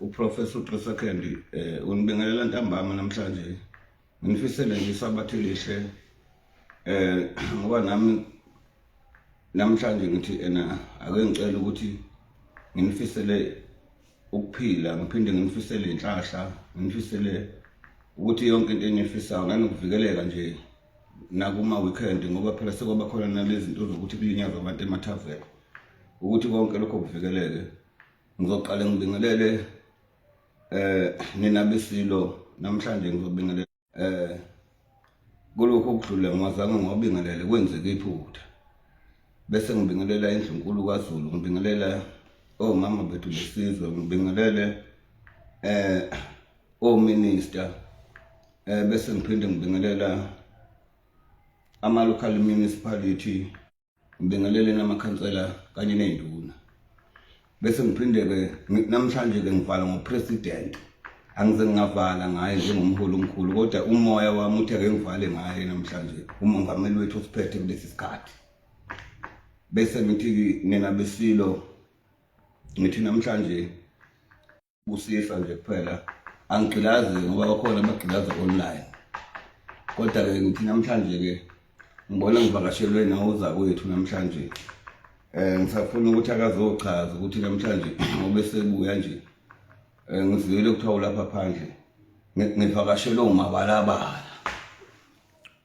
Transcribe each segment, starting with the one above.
uprofessor uxosa kendi um eh, unibingelela ntambama namhlanje nginifisele nje isabathe lihle um ngoba nami namhlanje ngithi ena ake ngicela ukuthi nginifisele ukuphila ngiphinde nginifisele inhlahla nginifisele ukuthi yonke into enifisayo nanokuvikeleka nje nakuma weekend ngoba phela sekwaba khona nalezi zinto zokuthi kulinyazwa abantu emathaveni ukuthi konke lokho kuvikeleke ngizoqale ngibingelele eh nina besilo namhlanje ngizobingelela eh kulokho okudlule ngwazange ngwabingelele kwenzeke iphutha bese ngibingelela indlunkulu kwaZulu ngibingelela omama oh, bethu besizwe ngibingelele eh ominister oh, eh bese ngiphinde ngibingelela ama local municipality ngibingeleleni amakhansela kanye ney'nduna bese ngiphinde-ke namhlanje-ke ngivala ngopresident angize ngingavala ngaye njengomholi omkhulu kodwa umoya wami uthi ake ngivale ngaye namhlanje umongameli wethu osiphethe kulesi sikhathi bese ngithi nina besilo ngithi namhlanje Busisa nje kuphela angigqilazi ngoba bakhona abagqilaza online kodwa-ke ngithi namhlanje-ke ngibona ngivakashelwe nawoza kwethu namhlanje um ngisafuna ukuthi akazochaza ukuthi namhlanje ngoba esebuya nje um eh, ngiziyele kuthiwa ulapha phandle ngivakashelwe umabalabala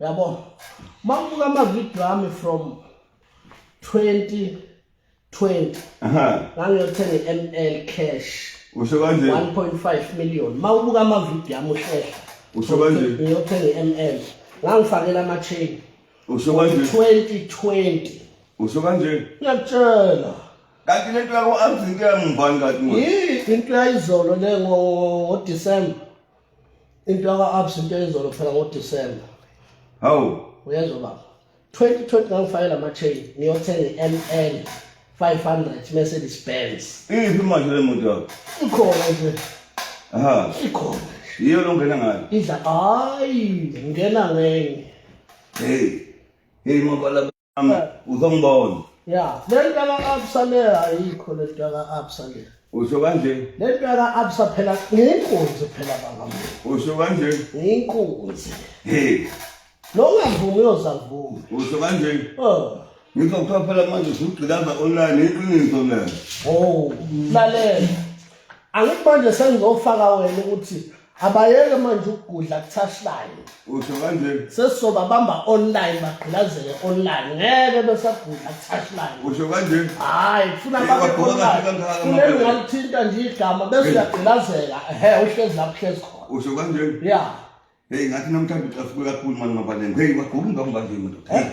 yabo uma ngibuka amavidiyo ami from 2020 ngangiyothenga i-m l cash usho kanje 1.5 million uma ubuka amavidiyo ami uhlehla usho kanje ngiyothenga i-m l ngangifakela ama-chain usho kanje 2020 usho kanje ngiyakutshela kanti lento yako-abzinto yangibani kanti yini into yayizolo le ngodisemba into yaka-abs into eyizolo kuphela ngodisemba hawu uyezwa baba 2020 ngangifake la ma-chain ngiyothenga i-m l 500 mercedes benz iphi manje le moto yakho ikhona nje aha ikhona yiyo lo ngena ngayo idla hayi ngena ngenye heyi heyi mabala uzongibona ya le nto ka-absa le ayikho le nto ka-absa le usho kanje le nto ka-absa phela ngiyinkunzi phela bangam usho kanje ngiyinkunzi nongavumi uyozavuma usho kanje oh. ngikho kuthiwa phela manje usugqilaza online iqiniso le o oh, lalela angithi manje sengizofaka wena ukuthi abayeke manje ukugudla kuthashlayo usho kanjeni sesizoba bamba online bagqilazele online ngeke besagudla kuthashlayo usho kanjeni hayi kufuna babekuleli ngalithinta nje igama bese uyagqilazela ehe uhlezi lapho uhlezi khona usho kanjeni ya heyi ngathi namhlanje ucafuke kakhulu mani mabalengo heyi waguka ingama banje madoda eh?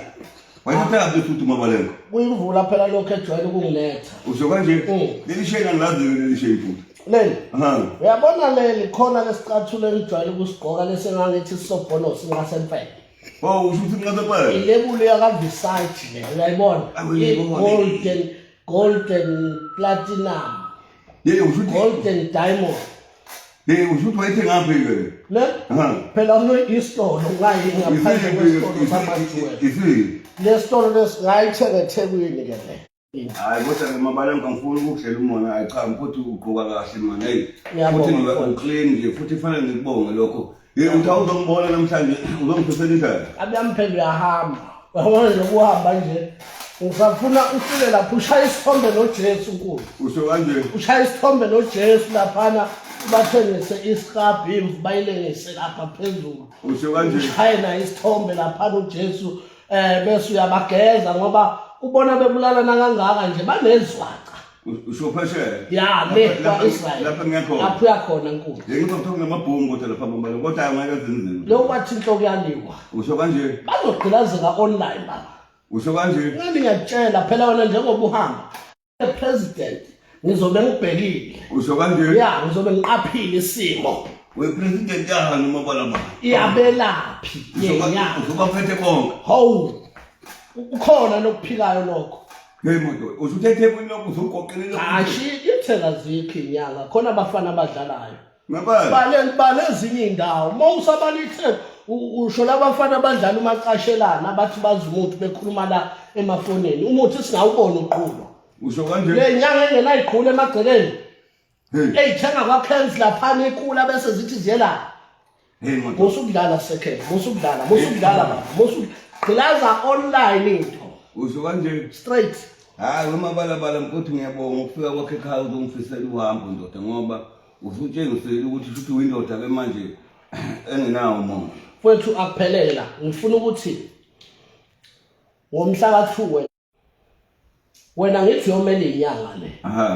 wayesithabe futhi umabalengo kuyimvula phela lokhu ejwayele ukungiletha usho kanjeni mm. leli sheni angilazi-ke leli sheni futhi leli uyabona leli khona lesicathulo engijwayele ukusigqoka lesi engangithi sisobhono singasemfele Oh, usho ukuthi ngingasephela. Ilebuli yakaVisage le, uyayibona? Golden golden platinum. Yey usho ukuthi golden diamond. Yey usho ukuthi wayethe ngaphi ke? Ne? Phela uno isitolo ngayi ngaphandle kwesitolo samajuwela. Isiphi? Lesitolo lesingayithenga eThekwini ke le. Hayi kodwa ke mabala ngangifuni ukudlela umona hayi cha mfuthu ugqoka kahle manje hey futhi ngiba uclean nje futhi fanele ngikubonge lokho ye uthi awuzombona namhlanje uzongiphisela indlela abuyamphela uyahamba uyabona nje kuhamba nje usafuna ufike lapho ushaya isithombe nojesu nkulu usho kanje ushaya isithombe nojesu laphana bathengise isihabhu imvu bayilengise lapha phezulu usho kanje ushaye naye isithombe laphana ujesu eh bese uyabageza ngoba ubona bebulalana kangaka nje banezwaca usho phesheya ya le kwa Israel lapha ngekho lapha uyakhona nkulu ngizothoka ngamabhungu kodwa lapha bombalo kodwa angeke zinzima lo kwathi inhloko yaliwa usho kanje bazogqilazeka online baba usho kanje ngani ngiyakutshela phela wena njengoba uhamba president ngizobe ngibhekile usho kanje ya ngizobe ngiqaphile isimo we president yahani uma bala mali iyabelaphi yenyanga uzoba phethe konke hawu ukhona nokuphilayo lokho Hey modo, usuthethe kwini lokho uzogoqelela. Hashi, ithela zikho inyanga, khona abafana abadlalayo. bale ezinye iy'ndawo uma usabalitheni usho labafana abadlala umacashelana abathi bazi umuthi bekhuluma la emafonini umuthi singawubona uqhuba usho kanje le nyanga engenayiqhula emagcekeni eyithenga kwakhens laphana ikula bese zithi ziyelapha musa ukudlala second musa ukudlala musa ukudlala mama musa gqilaza online into usho kanje straight hayi umabalabala mkuthi ngiyabonga ukufika kwakhe ekhaya uzongifisela uhambo ndoda ngoba usutshengisele ukuthi futhi uyindoda ke manje engenawo umoya kwethu akuphelele la ngifuna ukuthi ngomhla ka-two wena ngithi yomele inyanga le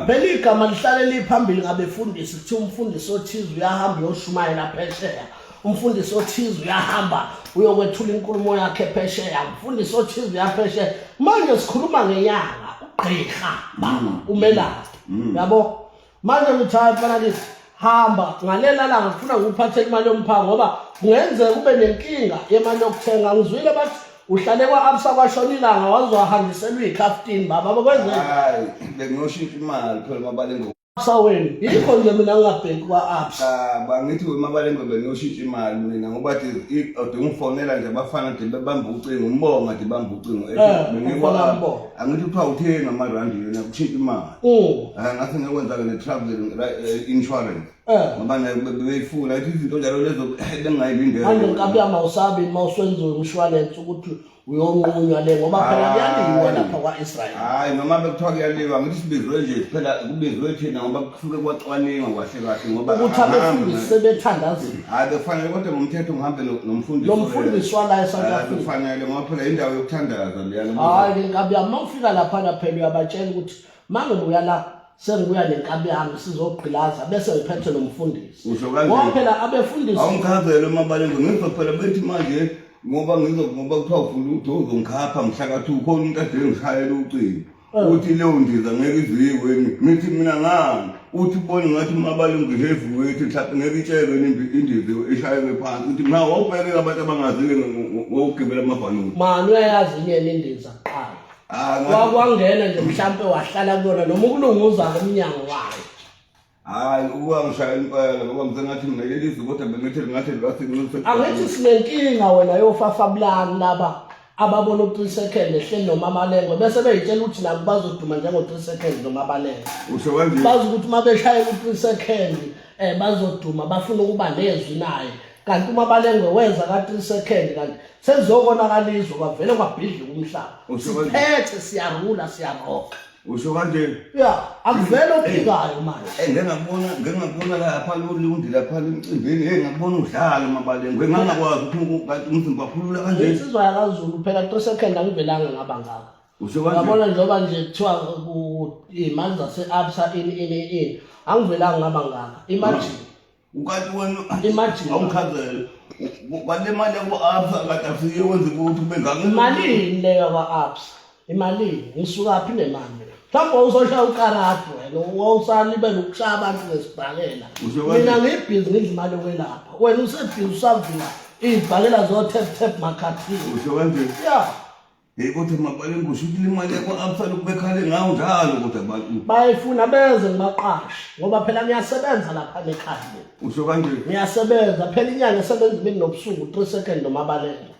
phela igama lihlale liphambili ngabefundisi kuthiwa umfundisi othize uyahamba uyoshumayela phesheya umfundisi othize uyahamba uyokwethula inkulumo yakhe phesheya umfundisi othize uyaphesheya manje sikhuluma ngenyanga ugqirha mama mm. umelaphi mm. yabo manje ngithanda fana kithi hamba ngalela langa ngifuna ngikuphathe imali yomphango ngoba kungenzeka kube nenkinga yemali yokuthenga ngizwile bathi uhlale kwa-absa kwashona ilanga waze wahangiselwa iy'khaftini baba bakwenzeka hayi bengiyoshintsha imali phela mabalengo absa wenu yikho nje mina ngingabheki kwa-absa Ah, bangithi wemabalengo bengiyoshintsha imali mina ngoba thi i- ode ungifonela nje abafana de bebamba ucingo umbonga de bamba ucingo Eh, Bengikwa- umfana umbonga. angithi kuthiwa utheni amarandi yona kushintsha imali Mm. Ah, ngathi ngekwenza-ke ne-travel eh, insurance eh. ngoba nayo beyifuna ithi izinto njalo lezo eh, bengingayilindele manje nkabi yami awusabi uma uswenziwe umshwalense ukuthi uyonqunywa le ngoba phela kuyaliwa lapha kwa-israyeli hhayi noma bekuthiwa kuyaliwa ngithi sibizwe nje phela kubizwe thina ngoba kusuke kwacwaningwa kwahle kahle ngoba ukuthi abefundisi sebethandazile hhayi bekufanele kodwa ngomthetho ngihambe nomfundisi lo mfundisi wala e-south africa bekufanele ngoba phela yindawo yokuthandaza leyana hhayi nkabi yami fika laphana phela uyabatshela ukuthi mangibuya la sengibuya nenkabi yami sizogqilaza bese ngiphethe nomfundisi Usho kanje. ngoba phela abefundisi awumkhazele umabalenge ngizwa phela bethi manje ngoba ngizo ngoba kuthiwa ufuna ukuthi uzongikhapha mhlakathi ukhona umuntu ade ngishayela ucingo Eh. uthi leyo ndiza ngeke iziyiweni ngithi mina ngani uthi ubone ngathi umabalenge heavy weight mhlawumbe ngeke itshelwe nimbi- indiza ishayelwe phansi uthi mna wawubhekela abantu abangazile ngokugibela amabhanothi mani uyayazi inyeni indiza Ah, ngathi- wakwangena nje mhlampe wahlala kuyona noma ukulunguza ngomnyango wayo hayi ukuba ngishaya impela ngoba ngisengathi mina leli zwi kodwa bengithi lingathi libasinxuse angithi sinenkinga wena yofafabulani laba ababona u-three second ehleli nomamalengwe bese beyitshela ukuthi nabo bazoduma njengo-three second nomabalengwe usho kanje bazi ukuthi uma beshayela u-three second um bazoduma bafuna ukuba nezwi naye kanti umabalengwe wenza ka-3 second kanti sekuzokonakala izwe kwavele kwabhidlika umhlaba Usho kanjani? siphethe siyarula siyaroka usho kanje ya akuvele ophikayo manje Eh, ngike ngakubona ngike ngakubona lapha lolundi lapha emcimbini hey ngakubona udlala umabalengwe ngangakwazi ukuthi uku- kanti umzimba phulula kanje insizwa yakazulu phela 3 second angivelanga ngaba ngaka usho kanje yabona njengoba nje kuthiwa ku- imali zase-absa ini ini ini angivelanga ngaba ngaka imagine ukati wenu Imagine. awuchazele kwale mali yaku-absa kade afike wenze kuphi bengake imalini le yakwa-absa imalini ngisukaphi nemali mina mhlawumbe wawuzoshaya ukarati wena wawusalibela ukushaya abantu ngesibhakela Usho kanje. mina ngiyibhizi ngidla imali yokwelapha wena usebhizi usavula iy'bhakela zo-tap tap makhathini usho kanjeni ya Hey kodwa mabale ngisho ukuthi imali yakho absala ukubekhale ngawo njalo kodwa abantu. Bayifuna benze ngibaqashe ngoba phela ngiyasebenza lapha ekhaya. Usho kanje. Ngiyasebenza phela inyanga esebenza imini nobusuku 3 second nomabalelo.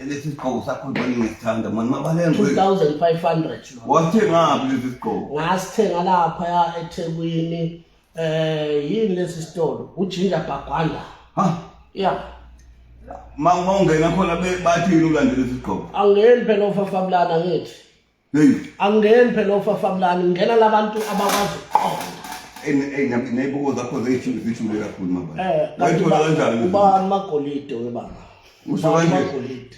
Lesi sigqoko sakho ngibona ngisithanda mani mabalelo. 2500. Wathengaphi lesi sigqoko? Ngasithenga lapha ya eThekwini. Eh yini lesi sitolo? Ujinja Bagwanda. Ha? Yeah. Ma uma ungena khona be- bathi yini ulandela isigqoko? Angeni phela ofafabulana ngithi. Hey, Angeni phela ofafabulana ngena labantu abakwazi ukuqonda. ey- ey, nab- ney'buko zakho zey'thule zithule kakhulu mabala. Eh Wayithola kanjani? ubani magolide webaba? Usho kanje. Amagolide.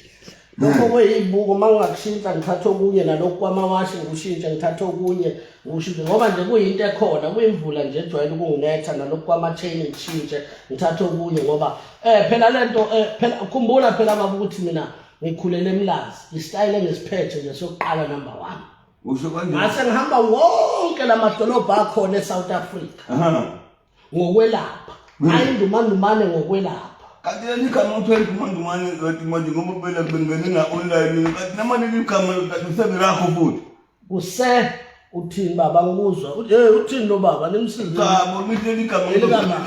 Lokho kweyibuko uma ngingakushintsha ngithatha okunye nalokhu kwamawashi ngikushintshe ngithatha okunye ngikushintshe ngoba nje kuyinto ekhona kuyimvula nje ejwayele ukunginetha nalokhu kwama-chain ngishintshe ngithathe okunye ngoba um phela le nto um phela khumbula phela baba ukuthi mina ngikhulele emlazi isitayile engisiphethe nje sokuqala number one Usho kanje. ngase ngihamba wonke la madolobha akhona esouth africa Aha. ngokwelapha hmm. ayindumandumane ngokwelapha kati yalikama uthenga umandumane kati manje ngoba phela bengene na online kati namane likama kati useberakho futhi kuse uthini baba ngikuzwa hey uthini lo baba nimsize cha bonile ligama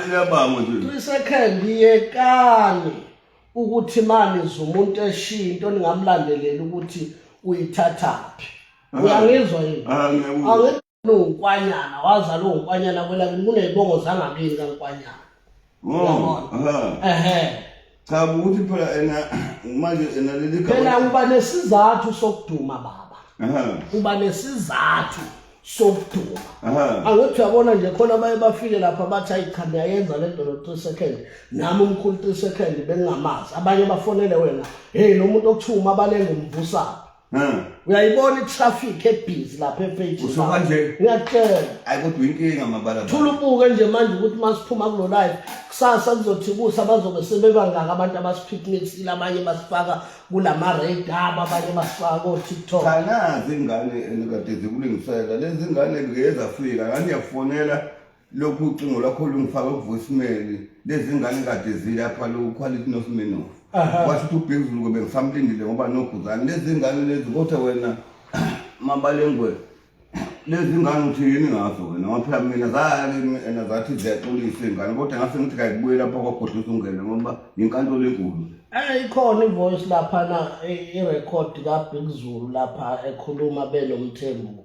liyabanga nje isekhembi yekani ukuthi mani zumuntu eshiya into ningamlandelela ukuthi uyithathaphi uyangizwa yini ungukwanyana wazalwa ungukwanyana kwelakini kuney'bongo zangakini kankwanyana mm, ehe cha ukuthi phela ena manje ena leli phela uba nesizathu sokuduma baba uba nesizathu sokuduma angithi uyabona nje khona baye bafike lapha bathi ayi cha niyayenza le nto no-three second nami umkhulu three second bengingamazi abanye bafonele wena heyi lo muntu okuthiwa umabalenga umvusaphi uyayibona itraffic ebhizi lapha efejiuyakutshela kodwa inkinga mabala thula ubuke nje manje ukuthi uma siphuma kulo life kusasa kuzothi kusa bazobe sebebangaki abantu abasiphikinisile abanye basifaka kulama-radab abanye basifaka kotiktok kanazi ingane enikade zikulingisela lezi ngane ngezafika ngani yakufonela lokhu ucingo lwakho lungifaka kuvoicemail lezi ngane kade zilapha loku quality nosimenof washo ukuthi ubhekuzulu kobe ngisamlindile ngoba noguzane lezi ngane lezi kodwa wena mabalengwe lezi ngane uthi yini ngazo wena ngoba phela mina zalimi ena zathi ziyaxolisa iy'ngane kodwa ngase ngithi kayibuye lapha kwagodla usungene ngoba yinkantolo enkulu Eh ikhona ivoice lapha na irecord kaBig Zulu lapha ekhuluma benomthembu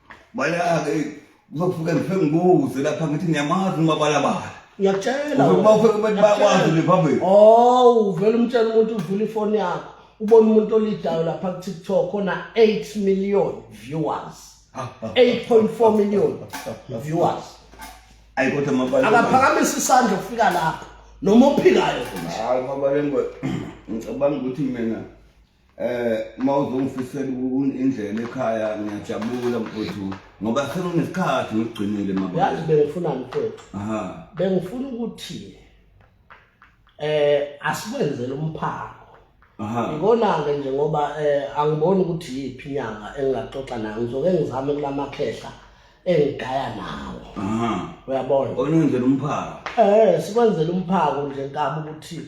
Balake uzofika ngife ngibuze lapha ngithi ngiyamazi umabalabala. Ngiyakutshela. Uzokuba ufike kubantu bakwazi le phambili. Oh, uvela umtshela umuntu uvula ifoni yakho. Ubona umuntu olidayo lapha ku TikTok ona 8 million viewers. 8.4 million viewers. Ayi kodwa mabala. Akaphakamisa isandla ufika lapha. Noma ophikayo. Hayi mabala ngicabanga ukuthi mina eh uma uzongifisela indlela ekhaya ngiyajabula mfowethu ngoba sekunesikhathi ngikugcinile mama yazi bengifunani mfowethu aha bengifuna ukuthi eh asikwenzele umphango aha ngikona ke nje ngoba eh angiboni ukuthi yipi inyanga engingaxoxa nayo ngizoke ngizame kulamakhehla engigaya nawo aha uyabona onenzela umphango eh sikwenzele umphango nje nkaba ukuthi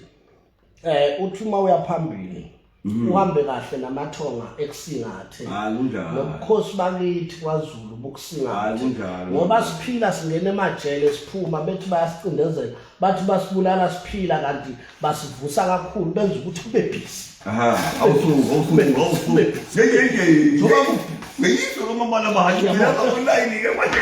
eh uthi uma uyaphambili mhm. uhambe kahle namathonga ekusingathe nobukhosi bakithi kwaZulu bukusingathe ngoba siphila singena emajele siphuma bethi bayasicindezela bathi basibulala siphila kanti basivusa kakhulu benza ukuthi kube busy aha awusuku awusuku awusuku ngeke ngeke ngiyiso lomabala bahajela online ke manje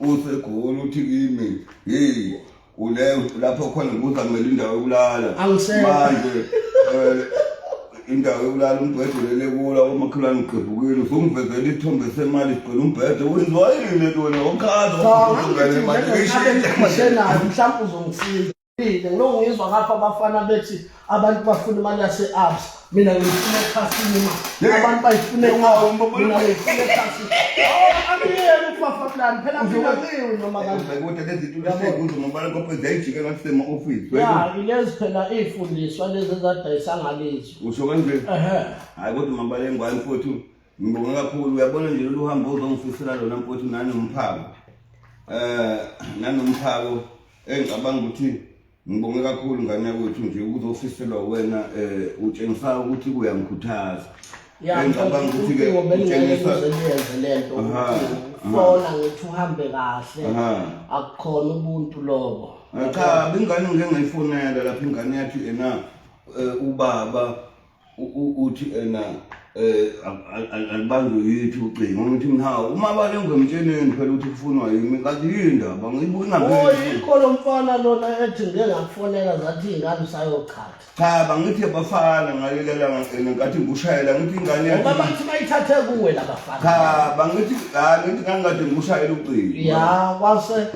usegoli uthi kimi hey ule lapho khona ngibuza kumele indawo yokulala Angisele. manje eh, indawo yokulala umbhede ulele kula umakhelwane ugqebhukile usungivezela isithombe semali sigcwele umbhede wenziwa yini le nto wena okhaza Cha, ngathi ngithi njengesikhathi engikhohlwe nayo mhlawumbe uzongisiza Mina ngiyongizwa ngapha abafana bethi abantu bafuna imali yase-abs mina ngiyifuna ekhasini ma abantu bayifuna mina ngiyifuna ekhasini angiyeni ukufafa kulani phela mina ngiwi noma kanilezi phela iy'fundiswa lezi ezadayisa ngalizwe usho kanje hhayi kodwa mabala engwani futhi ngibonga kakhulu uyabona nje lolu hambo uzongifisela lona mfowethu nanomphako um nanomphako engicabanga ukuthi ngibonge kakhulu ngane yakwethu nje ukuthi ofiselwa wena um utshengisa ukuthi kuyangikhuthaza engicabanga ukuthi-ke utshengisa fona ngithi uhambe kahle akukhona ubuntu lobo cha bingane ngike ngayifonela lapho ingane yathi ena eh, ubaba uthi ena eh, um alibanjwe yithi ucingo ngithi mhawu uma balengwemtsheneni phela ukuthi kufunwa yimi kanti yindaba ngiyibonayikho lo mfana lona ethi ngike ngakufonela zathi iy'ngane usayochatha cha bangithi abafana ngalelelangene nkathi ngikushayela ngithi ingane ngoba bathi bayithathe kuwe labafana cha bangithi hayi ngithi ngangikade ngikushayela ucingo ya kwase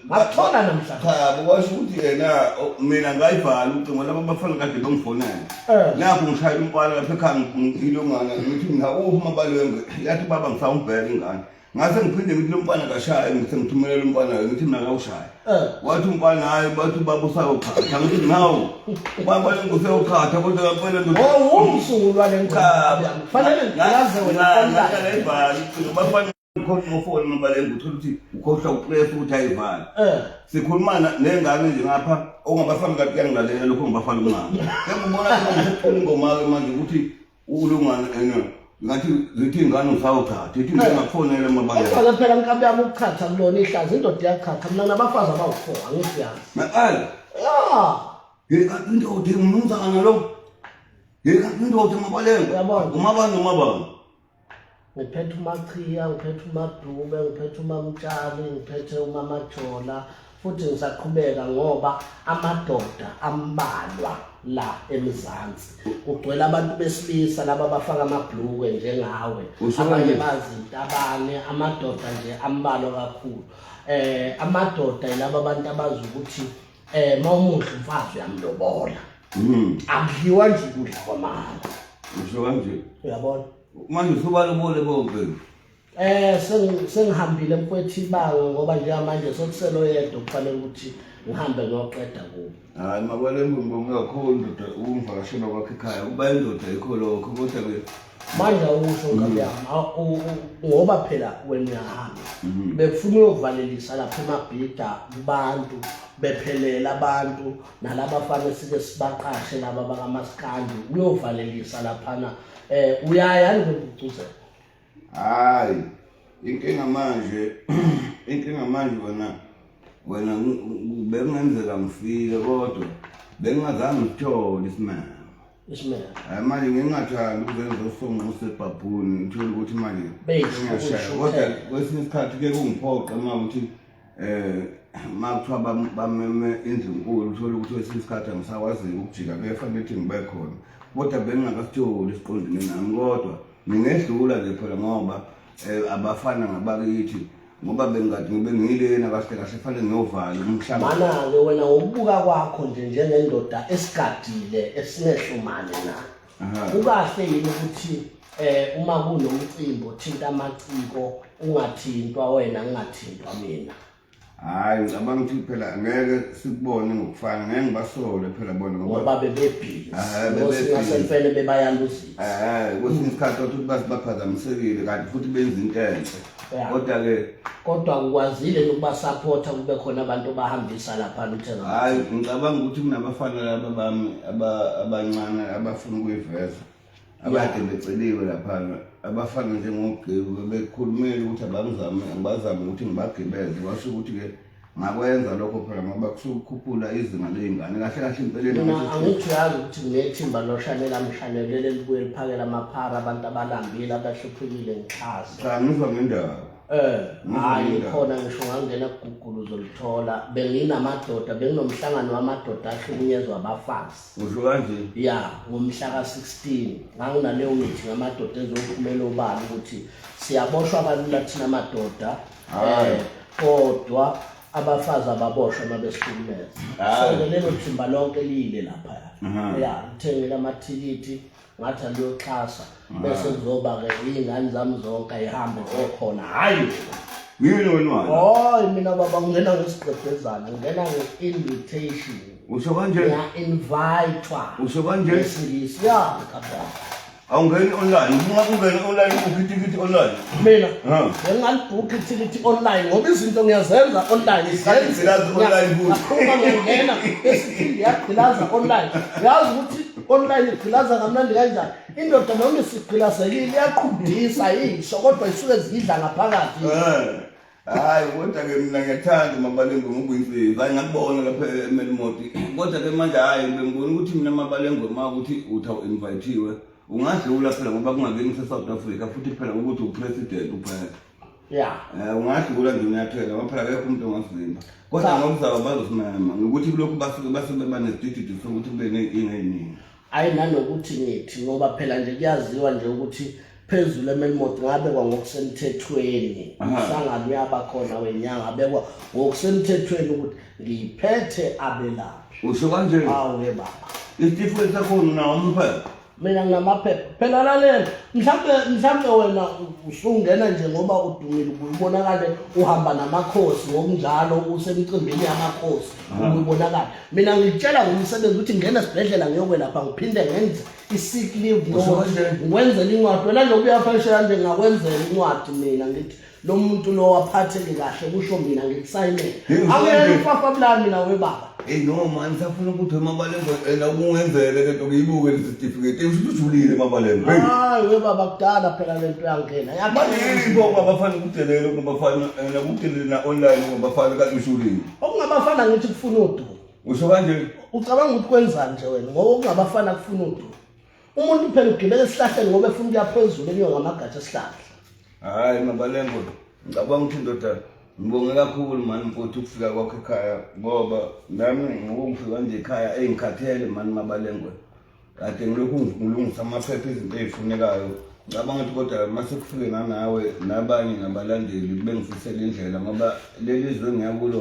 ngakuthola namhla cha kwasho ukuthi yena o- mina ngayivala ucingo laba bafana kade bangifonela Eh. nakho ngishayela umfana lapha ekhaya ngilongana ngithi mina uphi mabalwenge yathi baba ngifaka umbheka ingane ngase ngiphinde ngithi lo mfana kashaye ngithe ngithumelela umfana ngithi mina kawushaye Eh. wathi umfana hayi bathi ubaba usayokhatha ngithi nawu ubaba useyokhatha kodwa kampela ndoda Oh, wumsulwa le Cha, ngoma. Fanele ngaze wena. ngayibhala ucingo bafana ukhohlwa ufoni umabalenga uthole ukuthi ukhohlwa upress ukuthi ayivale eh. sikhuluma nengane nje ngapha ongabafana kade kuyangilalela lokho ngibafana umama ngiyakubona ngithula ingoma ke manje ukuthi ulungana ena ngathi zithi ingane usawuthatha ithi eh. ngingakufonela mabalenga kodwa phela nkabi yami ukuchatha kulona ihlazi indoda iyachatha mina nabafazi abawu-4 angisiyazi maqala ya ngekathi indoda ingumnumzana lo ngekathi indoda mabalenga umabani umabani ngiphethe umachiya ngiphethe umadube ngiphethe umamtshali ngiphethe umamajola futhi ngisaqhubeka ngoba amadoda ambalwa la emzansi kugcwele abantu besilisa laba bafaka amabhlukwe njengawe abanye bazintabane amadoda nje ambalwa kakhulu eh amadoda yilaba abantu abazi ukuthi Eh mawumuhle umfazi uyamlobola. Mhm. Akudliwa nje kudla kwamama. Usho kanje. Uyabona? Manje usubalobole bomphelo. Eh sengihambile mfwethi ibanga ngoba njengamanje sokuselo yedwa kufanele ukuthi ngihambe ngiyoqeda kubo. Hayi makwale mbongo kakhulu ndoda ukungivakashela kwakhe ekhaya kuba indoda ikho lokho kodwa ke manje awusho nkabi yami aw- u- u- ngoba phela wena uyahamba Mhm. bekufuna uyovalelisa lapha emabhida kubantu bephelela abantu nalaba fane sike sibaqashe laba bakamaskandi uyovalelisa laphana um uyaya nikubucuzela hayi inkinga manje inkinga manje wena wena ngi- ngi- bekungenzeka ngifike kodwa bengingazange ngithole isimanga hayi manje ngingathandi ukuze ngizofonga usebhabhuni ngithole ukuthi manje ngiyashaya kodwa kwesinye isikhathi kuye kungiphoqe uma ukuthi um ma kuthiwa bameme indlu nkulu uthole ukuthi kwesinye isikhathi angisakwaziki ukujika kuyefanele ukuthi ngibe khona kodwa bengingakasitholi siqondene nami kodwa ngingedlula nje phela ngoba um abafana ngabakithi ngoba bengathi ngibe ngilena kahle kahle fanele ngiyovala umhlaba mana-ke wena ngokubuka kwakho nje njengendoda esigadile esinehlumane na kukahle yini ukuthi eh uma kunomcimbi othinta amaciko ungathintwa wena ngingathintwa mina hayi ngicabanga ukuthi phela ngeke sikubone ngokufana ngeke ngibasole phela bona ngoba bebebhizi ngosingasemfene bebayaluzisa um kwesinye isikhathi othi ukuthi basibaphazamisekile kanti futhi benza into enhle kodwa ke kodwa ukwazile ukuba supporta kube khona abantu bahambisa lapha uthenga hayi ngicabanga ukuthi kunabafana laba bami abancane abafuna ukuyiveza abade beceliwe lapha abafana njengogebu bekhulumela ukuthi abangizame abazame ukuthi ngibagibeze basho ukuthi ke ngakwenza lokho phela ngoba kusukukhuphula izinga ley'ngane kahle kahle impeleni Mina angithi uyazi ukuthi nginethimba loshanela mshanelele libuye liphakele amaphara abantu abalambile abahluphekile ngixhase cha ngizwa ngendaba Eh, Ngizwa hayi ngendaba. khona ngisho ngangena kugugulu uzolithola benginamadoda benginomhlangano wamadoda ahlukunyezwa abafazi usho kanje ya ngomhla ka-16 nganginaleyo mithi ngamadoda ezophumela obala ukuthi siyaboshwa kalula thina madoda Hayi. Eh, kodwa abafazi ababoshwe uma besihlukumeza Hayi. so-ke lelo thimba lonke liyile laphaya Aha. ya ngithengile amathikithi ngathi aliyoxhasa bese kuzoba-ke iy'ngane zami zonke ayihambe okhona hhayi Ngiyini wena wani? hoyi mina baba ngingena ngesigqebhezana ngingena nge-invitation Usho kanje? ngiya-invayithwa Usho kanje? ngesingisi ya kababa awungeni online uma ungena online ubukhe itikiti online mina Ha. bengingalibhukhi ithikithi online ngoba izinto ngiyazenza online Isikhathi zenze. ngilazi online futhi. Ngaphuma ngiyongena esiphinde yagqilaza online yazi ukuthi online igqilaza kamnandi kanjani indoda noma isigqilazekile iyaqhubisa yisho kodwa isuke zidla ngaphakathi Eh. hayi kodwa ke mina ngiyathanda umabalengwe ngokuyimfezi hayi ngakubona lapha emelimoti kodwa ke manje hayi bengibona ukuthi mina mabalengwe ma ukuthi uthi awu-invayithiwe ungadlula phela ngoba kungakeni kusesouth africa futhi phela ukuthi upresident uphela ya um ungadlula nje unyathela ngoba phela kekho umuntu ongazimba kodwa ngokuzaba bazosimema ngokuthi kulokhu basuke basebebanezidididi sokuthi kube neyinkinga eyiningi Hayi nanokuthi ngithi ngoba phela nje kuyaziwa nje ukuthi phezulu eMelmont ngabekwa ngokusemthethweni umsangano uyaba khona wenyanga abekwa ngokusemthethweni ukuthi ngiphethe abelaphi usho kanje awu ke baba isitifiketi sakho unawo umphepha mina nginamaphepha phela lalela mhlawumbe mhlawumbe wena usungena nje ngoba udumile ubonakale uhamba namakhosi ngokunjalo usemcimbini yamakhosi ubonakala mina ngitshela ngomsebenzi ukuthi ngena esibhedlela ngiyokwelapha ngiphinde ngenze i-sick leave ngwenzela incwadi wena loku uyafanisha kanje ngakwenzela incwadi mina ngithi lo muntu lo waphatheke kahle kusho mina ngikusayinele akuyena ufafa bulani mina webaba eyi no mani safuna ukuthi emabalengwe ena kungenzele le nto ngiyibuke lesitifiketi usho ukuthi ujulile emabalengwe hayi webaba kudala phela le nto yangena yabanini bo babafana ukudelela ukubafana nakudelela na-online babafana kanti ushulile okungabafana ngithi kufuna udumo usho kanje ucabanga ukuthi kwenzani nje wena ngoba okungabafana kufuna udumo umuntu phela ugibela esihlahleni ngoba efuna ukuya phezulu enyuka ngamagatsha esihlahla hayi mabalengo ngicabanga ukuthi indoda ngibonge kakhulu mani mfowethu ukufika kwakho ekhaya ngoba nami ngokungifika nje ekhaya eyingikhathele mani mabalengo kade ngilokhu ngilungisa amaphepha izinto ezifunekayo ngicabanga ukuthi kodwa uma sekufike nganawe nabanye nabalandeli bengifisela indlela ngoba leli zwe ngiyakulo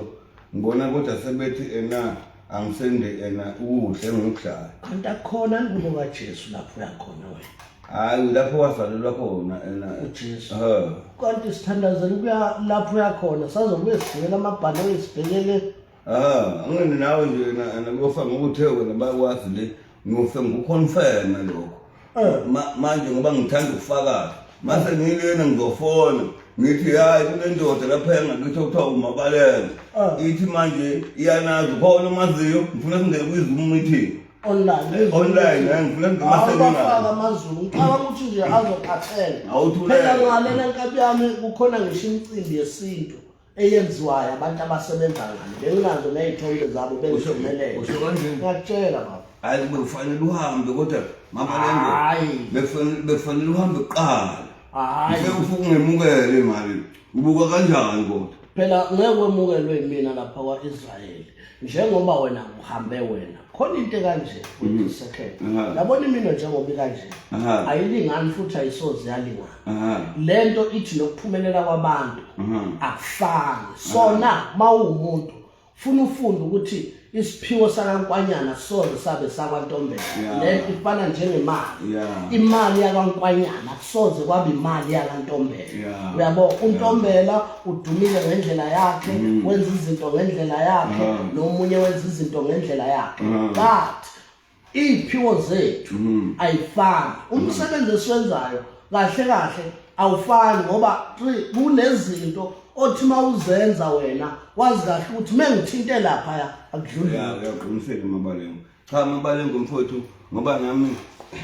ngibona kodwa sebethi ena angisende ena ukudla engikudlayo kanti akukhona ngubo kajesu lapho uyakhona wena hhayi lapho wazalelwa khona ena ujesu kanti sithandazela ukuya lapho uyakhona sazobuye sibhekele amabhanoyi sibhekele Ah, angene nawe nje nakuyofa ngokuthe wena bakwazi le ngiyofe ngikuconfirme lokho eh. manje ngoba ngithanda ukufakaza mase ngilena ngizofona ngithi hayi kunendoda lapha engakithi okuthiwa umabalele ah. ithi manje iyanazi khona umaziyo ngifuna singene kwizoom meeting online online eh, ngifuna ngimasebenzisafaka amazulu ngiqala ukuthi nje azokhathela phela ngalena nkabi yami kukhona ngisho imicimbi yesintu eyenziwayo abantu abasebenza ngani benginazo ney'thombe zabo bengisemelele usho kanjeni ngiyakutshela baba hayi bekufanele uhambe kodwa mamalengo Hhayi. bekufanele bekufanele uhambe kuqala hhayi ngeke ufuke ungemukele imali ubuka kanjani kodwa phela ngeke wemukelwe yimina lapha kwa-israyeli njengoba wena uhambe wena khona into kanje futhi second yabona imino njengoba ikanje ayilingani futhi ayisoze yalingana lento ithi nokuphumelela kwabantu akufani sona mawumuntu funa ufunde ukuthi isiphiwo sakankwanyana soze sabe sakwantombela lento ifana njengemali imali yakankwanyana soze kwaba imali yalantombela yeah. uyabo untombela yeah. udumile ngendlela yakhe mm. wenza izinto ngendlela yakhe uh -huh. nomunye wenza izinto ngendlela yakhe uh -huh. but iy'phiwo zethu mm. ayifani umsebenzi esiwenzayo kahle kahle awufani ngoba kunezinto othi uma uzenza wena wazi kahle ukuthi uma ngithinte laphaya akudluli cha mabale ngomfowethu ngoba nami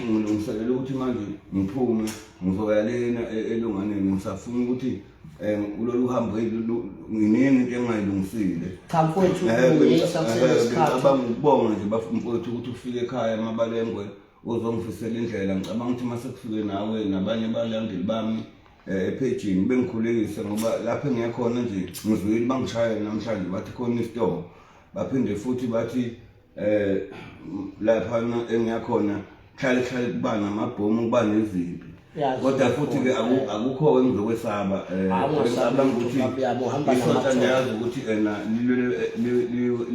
ngilungiselela ukuthi manje ngiphume ngizoya lena e-, elunganeni ngisafuna ukuthi um kulolu hambo nginingi into engingayilungisile cha mfowethu uyisa kusenesikhathi ngicabanga ukubonga nje bafumfowethu ukuthi ufike ekhaya mabalengwe uzongifisela indlela ngicabanga ukuthi uma sekufike nawe nabanye balandeli bami eh, ephejini bengikhulekise ngoba lapho engiyakhona nje ngizwile bangishayela namhlanje bathi khona isitoko baphinde futhi bathi eh lapha engiyakhona hlale hlale kuba namabhomu kuba nezimpi kodwa futhi ke akukho engizokwesaba eh, ngisaba ukuthi isonta ngiyazi ukuthi ena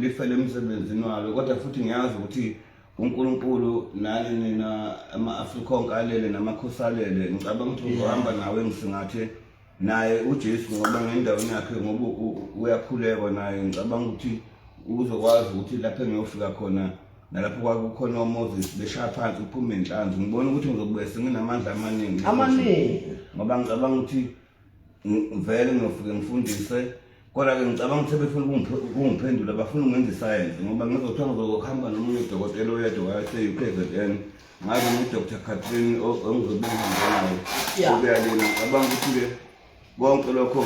lifele emsebenzini walo kodwa futhi ngiyazi ukuthi uNkulunkulu nani nina ama-Afrikonke alele namakhosi alele ngicabanga ukuthi uzohamba nawe ngisingathe naye uJesu ngoba ngendaweni yakhe ngoba uyakhuleka naye ngicabanga ukuthi uzokwazi ukuthi lapho engiyofika khona nalapho kwakukhona oMoses beshaya phansi uphume inhlanzi ngibona ukuthi ngizobuya senginamandla amaningi amaningi ngoba ngicabanga ukuthi vele ngiyofike ngifundise Kodwa-ke ngicabanga ukuthi befuna ukungiphendula bafuna ungenza isayensi ngoba ngizothiwa ngizohamba nomunye udokotela oyedwa wase-u k z n ngabe ngu-dr catrin engizobe ngihambanayo obeyalina ngicabanga ukuthi-ke konke lokho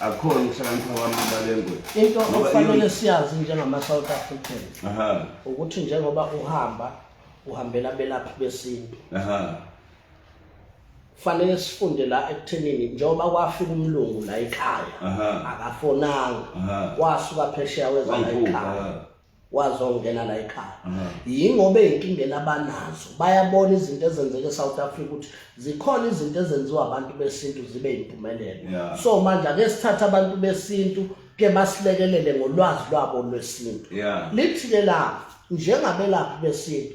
akukhona ukuhlakanipha kwami abalengwe into okufanele siyazi njengama-south african ukuthi njengoba uhamba uhambela abelaphi besintu kufanele sifunde la ekuthenini njengoba kwafika umlungu la ekhaya akafonanga wasuka phesheya weza la ekhaya wazongena la ekhaya yingoba inkinga labanazo bayabona izinto ezenzeke eSouth Africa ukuthi zikhona izinto ezenziwa abantu besintu zibe impumelelo so manje ake sithathe abantu besintu ke basilekelele ngolwazi lwabo lwesintu lithi ke la njengabelaphi besintu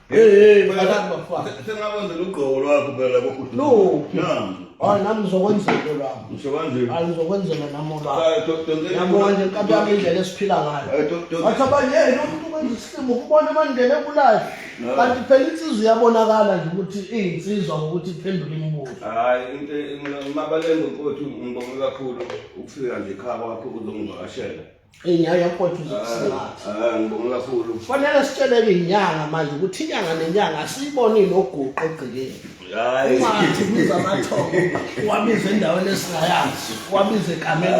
Hey, mfana bafana. Sengakwenza lugqoko lwakho phela kokuthi. No. Namu. Hayi ah, nami ngizokwenza into lwakho. Ngisho kanje. Hayi ah, ngizokwenzela nami olwakho. Ah, Yabo manje inkabi yami indlela esiphila ngayo. Wathi abanye hey umuntu kwenza isimo ukubona amandlela ebulayo. Kanti phela insizwa iyabonakala nje ukuthi iyinsizwa ngokuthi iphendule imibuzo. Hayi into mabalenga ukuthi ngibonga kakhulu ukufika nje ekhaya kwakho uzongivakashela. Inyanga yakwethu uzokusingatha. Ah, ngibonga kakhulu. Kufanele sitsheleke inyanga manje ukuthi inyanga nenyanga asiyibonile oguqo egcikeni. Hayi. Ungathi biza amathongo, wabiza endaweni esingayazi, wabiza egameni.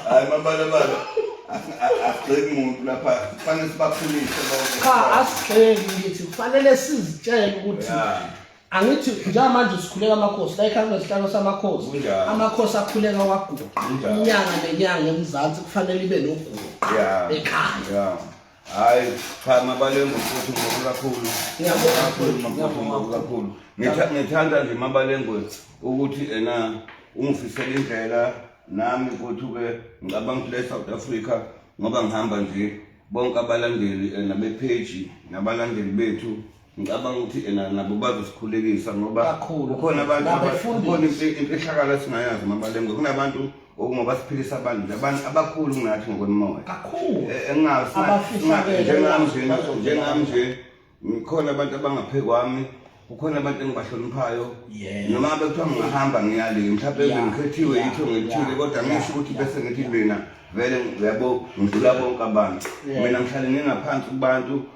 Hayi mabala bala. Asigxeki umuntu lapha. Kufanele sibakhulise bonke. Cha asigxeki ngithi kufanele sizitshele ukuthi Yeah. angithi njengamanje sikhuleka amakhosi la ikhansela isihlalo samakhosi Kunjalo. amakhosi akhuleka waguqa Kunjalo. inyanga nenyanga emzansi kufanele ibe noguqa Yeah. ekhaya Yeah. Hayi cha mabalengu futhi ngoku kakhulu. Ngiyabonga kakhulu futhi, makhulu ngiyabonga ngoku kakhulu. Ngitha- Ngithanda nje mabalengu ukuthi ena ungifisela indlela nami futhi ke ngicabanga ukuthi le South Africa ngoba ngihamba nje bonke abalandeli ena be page nabalandeli bethu ngicabanga ukuthi ena nabo bazosikhulekisa ngoba kukhona abantu kukhona imfihlakalo esingayazi mabalengwe kunabantu okungoba siphilisa abantu nje abantu abakhulu kunathi ngokwemoya kakhulu eh, engasinjengami nje njengami nje ngikhona abantu abangaphe kwami kukhona abantu engibahloniphayo noma bekuthiwa ngingahamba ngiyale mhlawumbe ngikhethiwe yitho ngithile kodwa ngisho ukuthi bese ngithi mina vele yabo ngidlula bonke abantu mina ngihlale ngingaphansi kubantu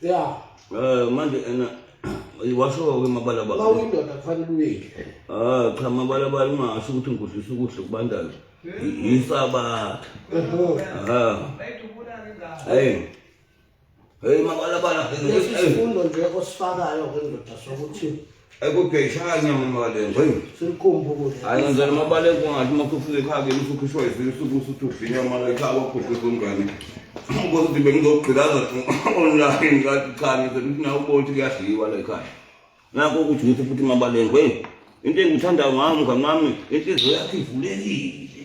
ya eh manje ena washo-ke mabalabala uma uyindoda kufanele uyeke ah cha mabalabala ungasho ukuthi ngikudlisa ukudla okubandayo yisabatha ah hey hey mabalabala lesi sifundo nje osifakayo kwendoda sokuthi ayikugeyishanya mamalengo eyi selikhomba ukudla hayi ngenzela amabaleko ungathi uma sufike ekhaya kimi usukhishwa yivile usuku usuthi udlinya mala ekhaya kwakhuhlisa umngane ukuthi ngibe ngizogqilaza online kathi cha ngenzela ukuthi nawe ubona ukuthi kuyadliwa la ekhaya nakho ukuthi ngithi futhi mabalengwe into engikuthandayo ngami mngani wami inhliziyo yakho ivulekile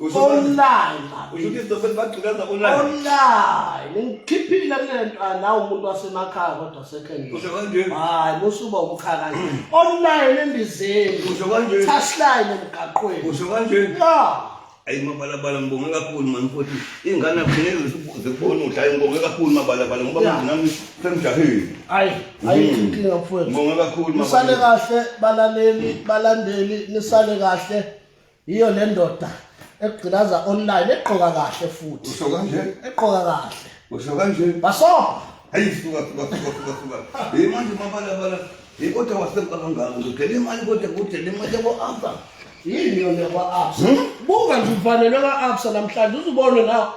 online usho ukuthi izitofeli bagcikaza online online ngikhiphile kule nto anawu ah, umuntu wasemakhaya kodwa sekhengile usho kanje hayi musuba umkhaya kanje online endizeni usho kanje touchline emgaqweni usho kanje ya ayi mabalabala ngibonge kakhulu mani futhi iy'ngane akufuneki zikubone ukuthi ayi ngibonge kakhulu mabalabala ngoba manje nami semjahile ayi ayi mm. inkinga mfowethu ngibonge kakhulu nisale kahle balaleli balandeli nisale kahle yiyo le ndoda ekugqilaza online egqoka kahle futhi usho kanje egqoka kahle usho kanje baso hayi suka suka suka suka suka hey manje mabala bala hey kodwa wasempa kangaka ngidele imali kodwa kudele imali yabo asa yini yona kwa absa buka nje uvalelwe ka absa namhlanje uzubone nawe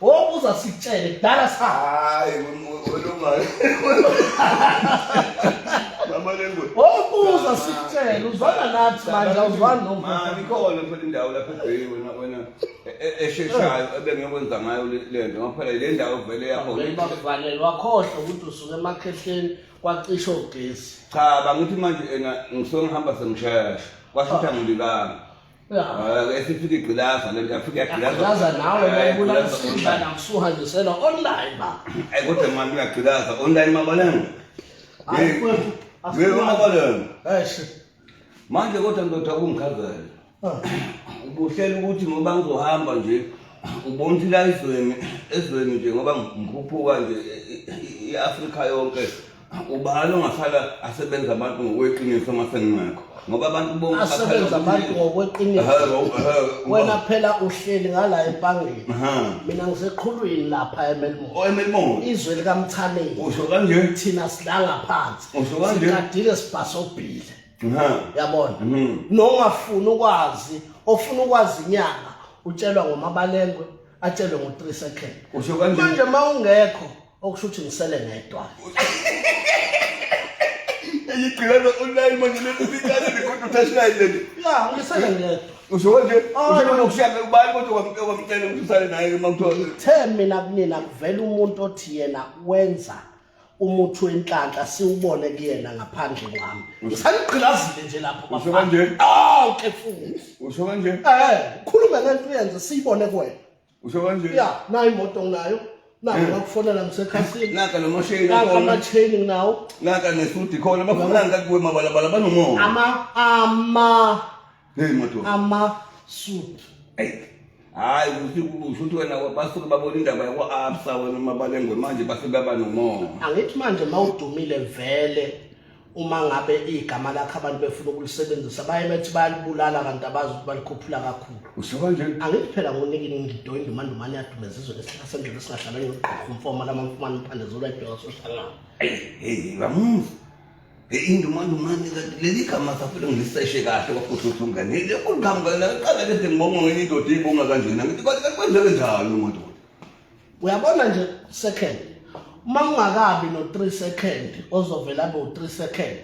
Hope uzasitshele kudala sa. Hayi ulungayo. Mama lengu. Hope uzasitshele uzwana nathi manje awuzwani nomfo. Ma nikhona phela indawo lapha ebheki wena wena esheshayo ebengiyokwenza ngayo le nto ngoba phela le ndawo vele yakho. Bakuvalelwa khohlwa ukuthi usuke emakhehleni kwacisha ogesi. Cha bangithi manje ena ngisuke ngihamba sengishesha. Kwasho ukuthi angilibanga. esifika igqilaza le nto afika yagqilaza nawe bayibulala isidla nakusuhanjisela online ba ayi kodwa mani uyagqilaza online mabaleni yebo mabaleni manje kodwa ndoda kungikhazele ah. ubuhlela ukuthi ngoba ngizohamba nje ubontshila ezweni ezweni nje ngoba ngikhuphuka nje i-afrika yonke ubani ongahlala asebenza abantu ngokweqiniso uma sengingekho ngoba abantu bonke asebenza abantu ngokweqiniso wena phela uhleli ngala empangeni mina ngiseqhulwini lapha emelmore oh, emelmore izwe likamthaneni usho kanje thina silanga phansi usho kanje sikadile sibhasobhile yabona mhm. nongafuni ukwazi ofuna ukwazi inyanga utshelwa ngomabalengwe atshelwe ngo-3 second manje uma ungekho okusho ukuthi ngisele ngedwa eyigqilana online manje lelibikane likhona uthashinayi leli ya ngisele ngedwa usho nje usho nokushaka ubani kodwa wamcela wamcela ukuthi usale naye uma kuthiwa ngithe mina kunina kuvela umuntu othi yena wenza umuthi wenhlanhla siwubone kuyena ngaphandle kwami ngisanigqilazile nje lapho usho kanje awu ke futhi usho kanje eh khuluma ngento uyenze siyibone kwena usho kanje ya nayo imoto nginayo nako eh. ngakufonela ngisekhasini naka lo mashini naka amacheni nginawo naka nesudi khona bafunani kakuwe mabalabala banomoya ama ama hey moto ama suit hey hayi usho ukuthi wena basuke babona indaba yakwa-absa wena mabalengwe manje base baba nomoya angithi manje uma udumile vele uma ngabe igama lakhe abantu befuna ukulisebenzisa baye bethi bayalibulala kanti abazi ukuthi balikhuphula kakhulu usho kanjani angithi phela ngonika ingido indumandumane yadumeza izwe lesihlala sendlela esingahlala ngiyogqoka umfoma lama mfumane umphande zolo ayibheka sohlangana hey ngamuva indumandumane kanti leli gama safele ngiliseshe kahle kwafuhluthu ngane lekhulu gama ngaqala lese ngibonga ngenye indoda eyibonga kanjena ngithi kanti kwenzeke njani umuntu uyabona nje second uma ungakabi no 3 second ozovela bo 3 second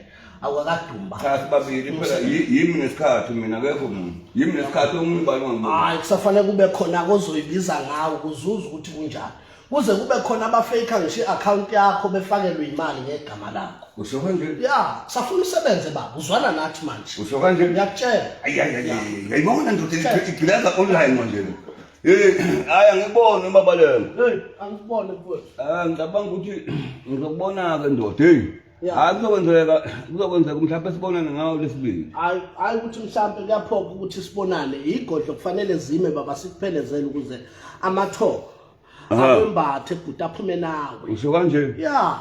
awakadumba cha sibabili phela yimi nesikhathi mina akekho mina yimi nesikhathi omunye ubani wangibona hayi kusafanele kube khona kozoyibiza ngawo kuzuza ukuthi kunjani kuze kube khona abafake ngisho i-account yakho befakelwe imali ngegama lakho usho kanje ya safuna usebenze baba uzwana nathi manje usho kanje ngiyakutshela ayayayayibona ndoda igileza online manje Hey, hayi angiboni umabalelo. Hey, angiboni mfowethu. Ah, ngicabanga ukuthi ngizokubona ke ndoda. Hey. Yeah. Hayi kuzokwenzeka kuzokwenzeka mhlawumbe sibonane ngawo lesibili. Hayi hayi ukuthi mhlawumbe kuyaphoka ukuthi sibonane. Igodlo kufanele zime baba sikuphelezele ukuze amathoko Aha. abembathe bhuti aphume nawe. Usho kanje? Yeah.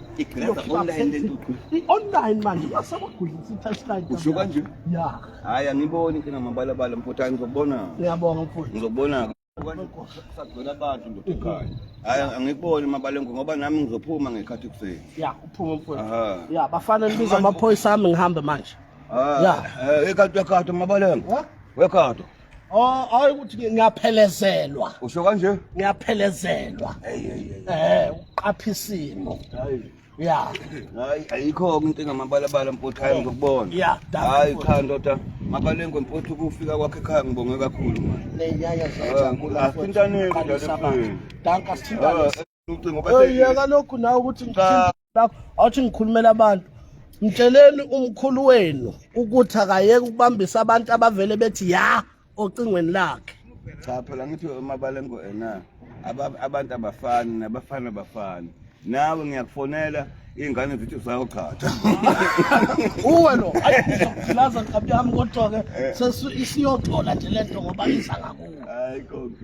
i-online manje basabagulisa i-touchline usho kanje ya hayi angiboni kena mabalabala mfutha ngizobona ngiyabonga mfutha ngizobona sagcwela abantu ndoda ekhaya hayi angikuboni mabalengu ngoba nami ngizophuma ngekhathi kuseni ya uphuma mfutha ya bafana nibiza amaphoyisa ami ngihambe manje ya ekhathi ekhathi mabalengu wekhathi Oh, hayi ukuthi ngiyaphelezelwa. Usho kanje? Ngiyaphelezelwa. Eh, uqapha isimo. Hayi. Ya. Hayi, ayikho into engamabalabala mfuthu hayi ngokubona. Ya, hayi cha ndoda. Mabalengwe mfuthu kufika kwakhe ekhaya ngibonge kakhulu manje. Leyaya zajabula. Asintane ndoda. Danka sithintane. ucingo bese yeka lokhu nawe ukuthi ngithinta lapho awuthi ngikhulumela abantu mtsheleni umkhulu wenu ukuthi akayeke ukubambisa abantu abavele bethi ya ocingweni lakhe cha phela ngithi umabalengo ena abantu abafani nabafana abafani nawe ngiyakufonela iy'ngane zithi usayogchatha uwe lo ayi ngizokugqilaza nkabi yami kodwa-ke eh. isiyoxola nje le nto ngoba iza ngakuwe hayi konke